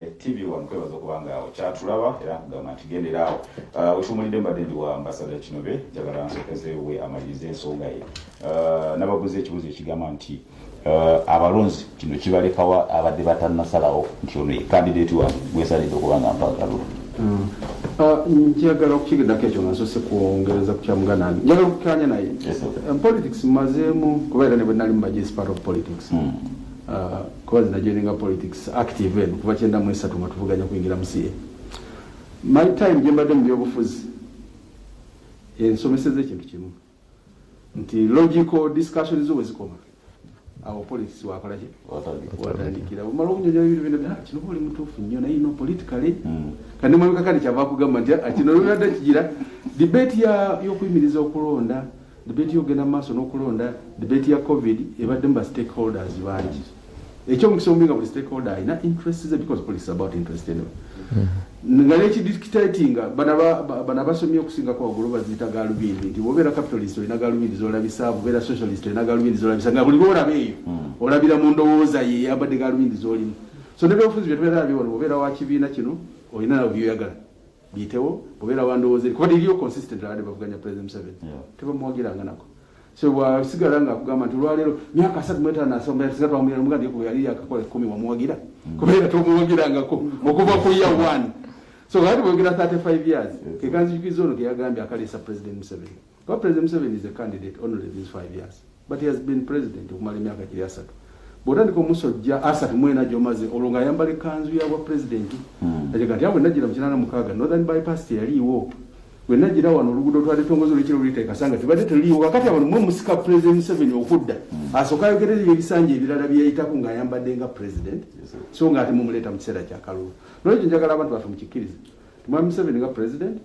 TV one kwebaza okuba nga okyatulaba era nkugamba nti gendera awo uh, wetuwumulidde mbadde ndi wa ambasada kinobe njagala nsokezewe amaliriza ensonga ye uh, nababuuza ekibuuzo ekigamba nti uh, abalonzi kino kibalekawa abadde batanasalawo nti ono ekandidati wange gwesalidde okuba nga mpagalo mm. njagala okukigiddako ekyo nga nsose kwongereza ku kyamuganange njagala okukanya naye politics mazeemu kuba era ne bwenali mu majesipart of politics mm. Uh, kuba zina joininga politics active eno kuva kyenda mu esatu nga tuvuganya kuyingira mu ca my time gye mbadde mu byobufuzi ensomeseza ekintu kimu nti logical discussion zo wezikoma awo politics wakolaki watandikira omala okunyonyola ebintu bino bya ah, kino oli mutuufu nnyo naye no politically hmm. kandi mwabikakati kyava kugamba nti ah, kino lwebadde kigira debate yokuyimiriza okulonda Debate yogenda mu maaso n'okulonda debate ya covid ebaddemu ba stakeholders bangi ekyomukisa omubi nga buli stakeholder alina interest ze because police about interest anyway mm-hmm. nga nekidictatinga bana basomye okusinga kwagulu baziyita galubindi nti wobeera capitalist olina galubindi zolabisa bubeera socialist olina galubindi zolabisa nga buli lwolaba eyo mm. olabira mu ndowooza ye yabadde galubindi zolimu so nebyobufuzi byetubeera nabyo wano wobeera wa kibiina kino olina nabyo byoyagala biyitewo obeera wandowooza eri kuba liriyo consistent abadde bavuganya president museveni tebamuwagiranga nako so wasigala nga akugamba nti olwaleero myaka asatu mwetaano asomba yasiga twamugira muga ndi kuba yali yakakola ekkumi wamuwagira mm. kubeera tomuwagirangako mm. okuva ku ya one so ati bwogera 35 years kekanzijukiza ono keyagambye akaleesa president museveni Kwa President Museveni is a candidate only these five years. But he has been president okumala emyaka giri asatu. Bwotandika omusojja asatu mwena gyomaze olwo nga ayambala ekkanzu ya bwa president. Hmm. Ajega nti awo najjira mu kinaana mukaaga Northern Bypass teyaliiwo. Bwe najjira wano oluguudo twalitongoza olwekiro luliteeka sanga tebadde teliiwo kakati abantu mwe musika President Museveni okudda. Hmm. Asooka ayogerera ebisanja ebirala bye yayitako ng'ayambadde nga president. So ng'ate mumuleeta mu kiseera kya kalulu. Nolwekyo njagala abantu baffe mukikkirize. Mwami Museveni nga president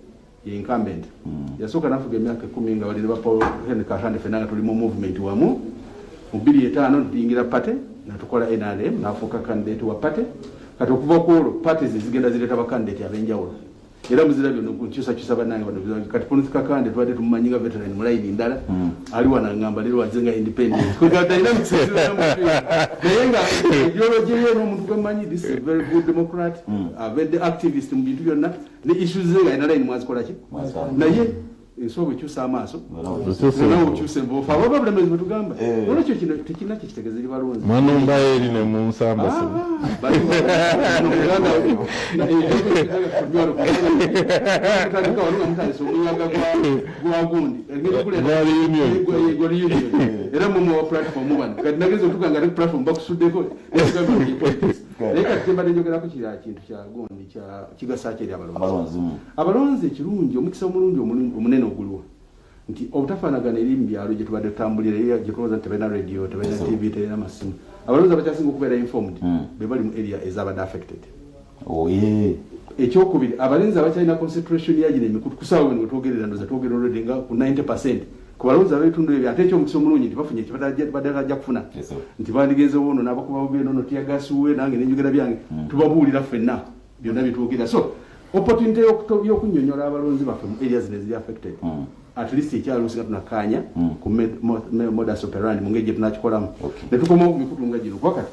ye incumbent mm. yasooka nafuga emyaka ekumi nga balina ba paul henry kahande fena nga tuli mu movement wamu mu bbiri etaano ntuyingira pate natukola nrm nafuuka kandidate wa pate kati okuva kwolwo pate zezigenda zireeta bakandidate abenjawulo era muzira byona nkyusakyusa banange bano kati polisi kakande tubadde tumumanyi nga veteran mulayini ndala mm. ali wanangamba lero waze nga independent naye nga ideology ye nomuntu gwemanyi this is very good democrat mm. abedde activist mu bintu byonna ne issues ze nga inalaini mwazikolaki naye ensi obwe kyusa amaaso nawe okyuse envoofu abo ababulemezi bwetugamba eh. olwekyo kino tekirina kyekitegeza eri balonzi manumba eri ne mu nsamba ah, era mumuwa platform bano kati nageza otuga nga ne platform bakusuddeko naye kati kyembadde njogerako kira kintu kya gundi kigasa ki eri abalonzi mm. abalonzi ekirungi omukisa omulungi omunene oguliwo nti obutafaanagana eri mu byalo gye tubadde tutambulira era gye tulowooza nti tebalina radio tebalina tv tebalina masimu abalonzi abakyasinga okubeera informed mm. be bali mu area ezabadde affected oh, ekyokubiri abalinzi abakyalina concentration yagino emikutu kusaawa weno wetwogerera ndoza twogerera olwedde nga ku 90 percent ku balonzi ab'ebitundu ebyo ate ekyomukisa omulungi nti bafunye kibadagajja kufuna nti bandigenze wono nabakuba bugendo no tiyagasi wuwe nange nenjogera byange hmm. tubabuulira fenna byonna byetwogera so opportunity yokunyonyola abalonzi baffe mu areas neziri affected hmm. at least ekyalusi nga tunakaanya hmm. ku modus operandi mu ngeri gyetunakikolamu netukomawo ku mikutu nga gino kuba kati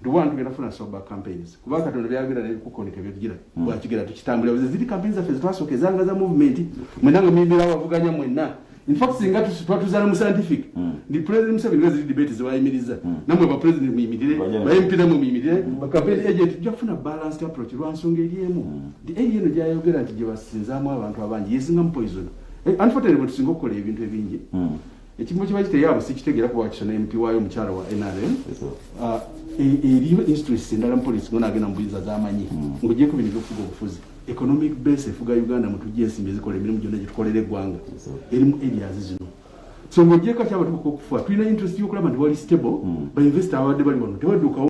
Nduwa ntugenda funa soba campaigns. Kuba katonda byagera ne kukoni kebejira. Mm. Kwa kigera tukitambula buzi zili campaigns za fezitwa soke zanga za movement. Mwenanga mimi lawa vuganya mwena. In fact singa tusitwa tuzana mu scientific. Mm. Ni president msabi nwe zili debate ziwa imiliza. Mm. Namwe ba president mwimidire. Ba MP namwe mwimidire. Mm. Ba campaign agent tuja funa balanced approach. Rwa nsonge yemu. Mm. Di eyi yenu jaya yogera ati jiwa sinza mwa abantu abanji. Yesinga mpoizono. Eh, unfortunately, but singo kole ebintu ebinji. Mm. ekimu kiba kiteyaabo sikitegera kuba wakisana empi waayo omukyala wa nrm ah, e- eriyo instress endala mupolisi ngona agenda mubuyiza zamanyi hmm. ngaogyeko bino byokufuga obufuzi economic base efuga uganda mutujja ensimbi ezikola emirimu gyonna gyetukolera eggwanga erimu areas zino so ngaogyeko kyabatuuka okufa tulina interest yokulaba nti wali stable hmm. bainvesita ababadde bali wano tebadukawo